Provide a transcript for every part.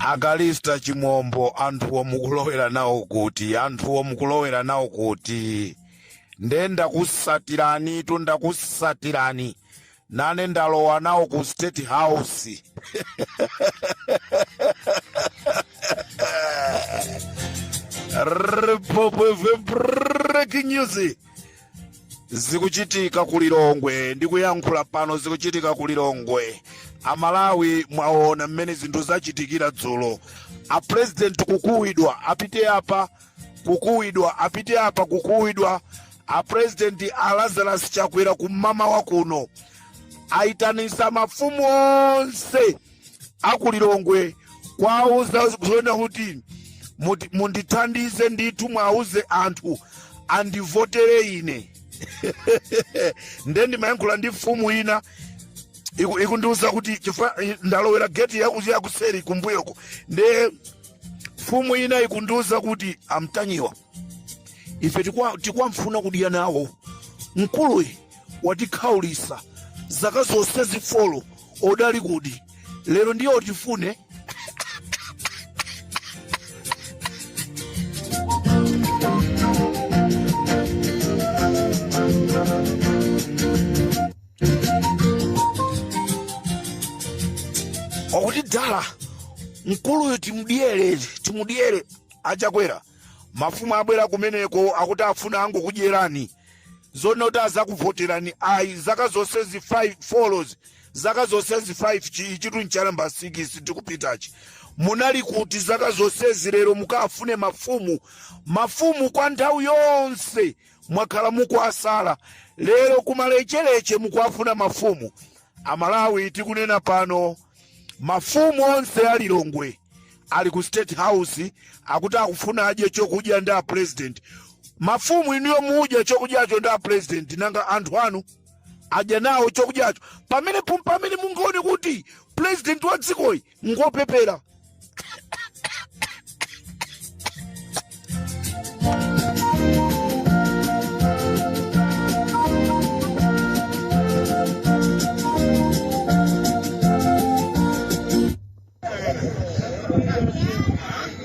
a kalista chimombo anthuwo mukulowera nawo kuti anthuwo mukulowera nawo kuti nde ndakusatirani tu ndakusatirani nane ndalowa nawo ku state house Republic breaking news zikuchitika ku lilongwe ndikuyankhula pano zikuchitika ku lilongwe amalawi mwaona mmene zinthu zachitikira dzulo apurezidenti kukuwidwa apite apa kukuwidwa apite apa kukuwidwa apurezidenti a lazarus chakwera kum'mawa kuno ayitanisa mafumu onse akulilongwe kuwauza zona kuti muti- mundithandize ndithu mwauze anthu andivotere ine nde ndimayankhula ndi mfumu ina iku- ikundiuza kuti ife ndalowera geti yaku- yakuseri kumbuyoko nde mfumu ina ikundiuza kuti amtanyiwa ife tikufuna kudya nawo mkuluyi watikhaulisa zaka zonse zifolo adali kuti lero ndiwotifune wakuti dala mkuluyi timudyere timudyere achakwera mafumu abwera kumeneko akuti afuna angokudyerani zonena kuti azakuvoterani ayi zaka zonsezi zifolo zaka zonsezi 5 ichitu ncha nambala 6 tikupitachi munali kuti zaka zonsezi lero mukafune mafumu mafumu kwa nthawi yonse mwakhala mukuasala lero kumalecheleche mukuafuna mafumu amalawi tikunena pano mafumu onse a lilongwe ali ku state house akuti akufuna adye chokudya ndi a president mafumu inuyo mudya chokudyacho ndi a president nanga anthu anu adya nawo chokudyacho apa ndi pomwe mungaone kuti president wa dzikoyi ngopepera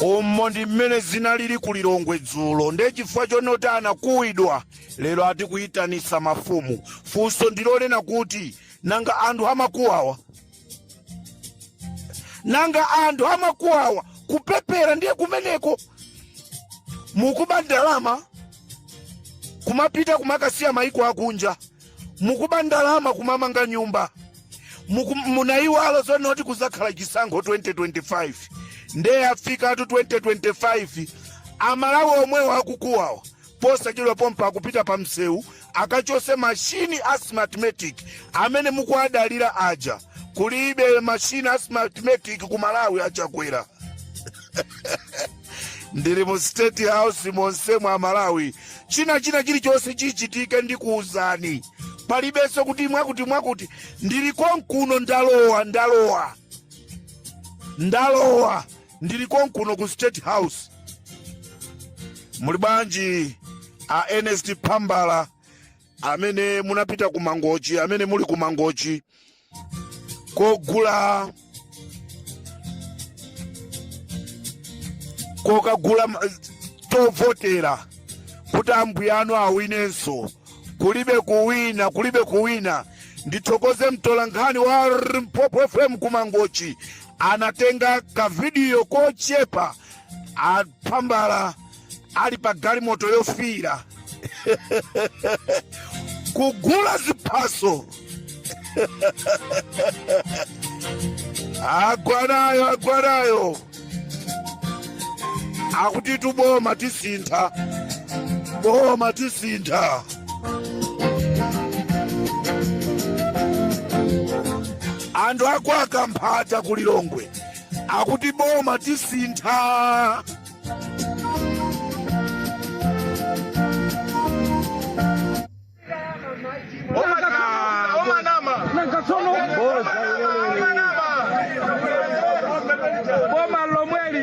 umo ndi mmene zinalili ku lilongwe dzulo ndiye chifukwa chonena kuti anakuwidwa lero ati kuyitanitsa mafumu funso ndi lonena kuti nanga anthu amakuwawa nanga anthu amakuonani kupepera ndiye kumeneko mukuba ndalama kumapita kumakasiya maiko akunja mukuba ndalama kumamanga nyumba Muku- munayiwala zonena zoti kuzakhala chisankho 2025 nde yafikatu 2025 amalawi omwewo akukuwawa posachedwa pompano akupita pa msewu akachose mashini a smartmatic amene mukuadalira aja kulibe mashini a smartmatic ku malawi achakwera ndili mu state house monse mwa malawi china china chilichonse chichitike ndikuwuzani palibenso kuti mwakuti mwakuti ndili konkuno ndalowa ndalowa ndalowa ndili konkuno ku state house muli bwanji a ernest phambala amene munapita ku mangochi amene muli ku mangochi kogula kokagula ma- tovotera kuti ambuya anu awinenso kulibe kuwina kulibe kuwina ndithokoze mtolankhani wa mpopo fm kumangochi anatenga kavidiyo kochepa aphambala ali pa galimoto yofiira kugula ziphaso agwanayo agwanayo akuti tuboma tisintha boma tisintha anthu a kwa Kamphata ku lilongwe akuti boma tisintha boma lomweli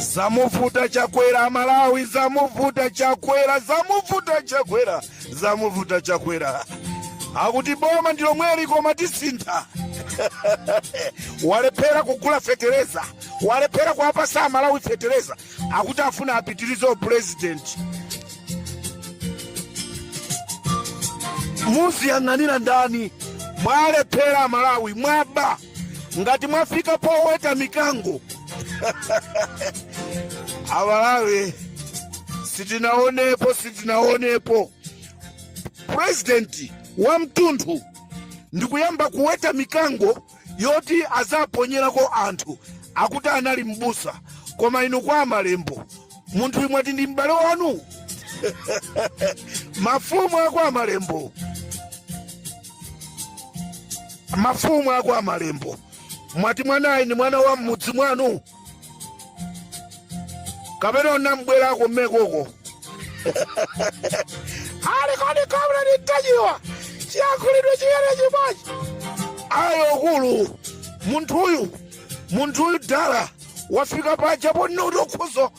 zamuvuta chakwera amalawi zamuvuta chakwera zamuvuta chakwera zamuvuta chakwera akuti boma ndi lomweli koma tisintha walephera kugula fetereza walephera kuwapasa amalawi fetereza akuti afuna apitirize upulezidenti muziyang'anira ndani mwalephera amalawi mwaba ngati mwafika poweta mikango amalawi sitinaonepo sitinaonepo purezidenti wa mtunthu ndikuyamba kuweta mikango yoti azaponyerako anthu akuti anali mbusa koma inu kwa amalembo munthuyu mwati ndi m'bale wanu mafumu ako amalembo mafumu ako amalembo mwati mwanayu ndi mwana wa m'mudzi mwanu kapena munabwerako kumeneko ali kodi kamla nditajiwa chiyankhulidwe chiyani chimodzi ayi akulu munthuyu munthuyu dala wafika paja ponena kuti ukhoza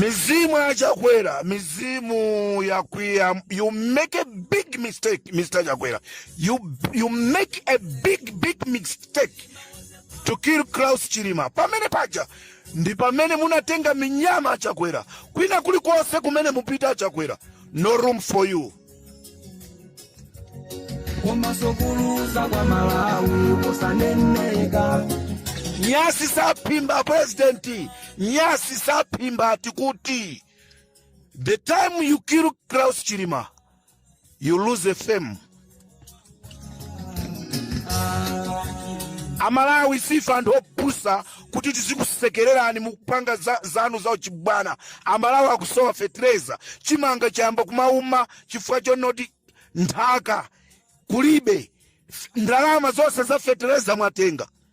mizimu achakwera mizimu yakwiya you make a big mistake mr chakwera you, you make a big big mistake to kill Klaus Chilima pamene paja ndi pamene munatenga minyama achakwera kwina kulikonse kumene mupite achakwera no room for you komanso kuluza kwa malawi kosaneneka nyasi saphimba presidenti nyasi saphimba tikuti the time you kill klaus chilima you lose a fame amalawi sife anthu opusa kuti tizikusekererani mukupanga za, zanu za uchibwana amalawi akusowa fetereza chimanga chayamba kumawuma chifukwa chonoti nthaka kulibe F- ndalama zonse za fetereza mwatenga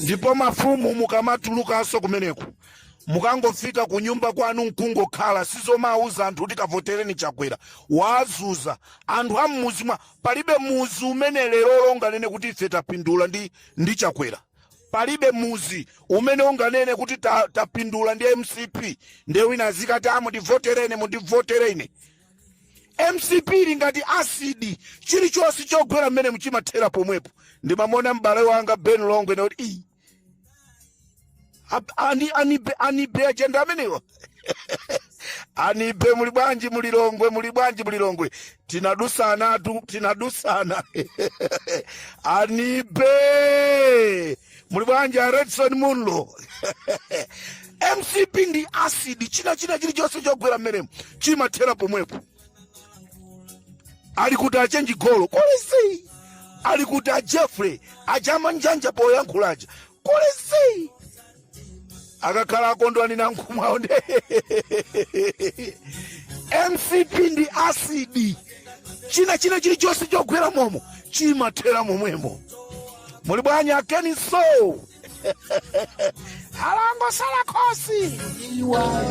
ndipo mafumu mukamatulukanso kumeneku mukangofika ku nyumba kwanu nkungokhala zizomauza anthu kuti kavotereni chakwera wazuza anthu a mmuzi mwa palibe muzi umene leroli unganene kuti ife tapindula ndi, ndi chakwera palibe muzi umene unganene kuti ta- tapindula ndi mcp nde wina azikati a mundivotereni mundivotereni mcp ili ngati asidi chilichonse chogwera mmene chimathera pomwepo ndimamona m'bale wanga ben longwe akuti iyi anibe ajenda amenewa anibe muli bwanji mu lilongwe muli bwanji mu lilongwe tinadusanatu tinadusana anibe muli bwanji a redson munlo mcp ndi asidi china china chilichonse chogwera mmenemo chimathera pomwepo ali kuti achenjigolo kulisi ali kuti a jeffrey ajama njanja poyankhulaja kulisi akakhala akondwani nankhumwa nde mcp ndi asidi china china chilichonse chogwera momo chimathera momwemo muli bwanji akeni so alangosala khosi awa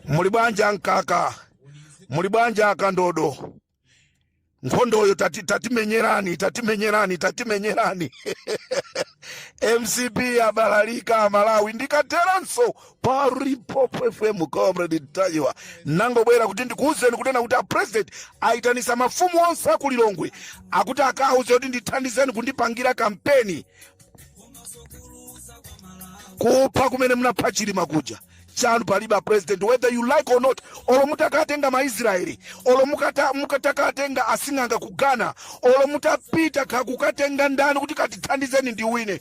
muli bwanji amkaka muli bwanji akandodo nkhondoyo tati- tatimenyerani tatimenyerani tatimenyerani mcp abalalika amalawi ndikateranso pa Limpopo FM comrade Ntanyiwa nangobwera kuti ndikuwuzeni kunena kuti a president ayitanisa mafumu onse a ku Lilongwe akuti akawuze kuti ndithandizeni kundipangira kampeni kupha kumene munapha Chilima kuja chanu palibe president whether you like or not olo mutakatenga maisraeli olo mukata- mukatakatenga asing'anga ku ghana olo mutapita kakukatenga ndani kuti katithandizeni ndiwine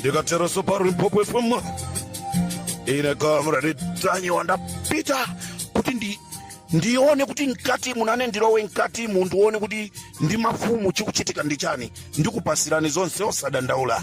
ndikatero so pa limpopo fm ine comrade Ntanyiwa ndapita kuti ndi ndione kuti mkati munane ndilowe mkati mu ndione kuti ndi mafumu chikuchitika ndi chani ndikupasirani zonse osadandaula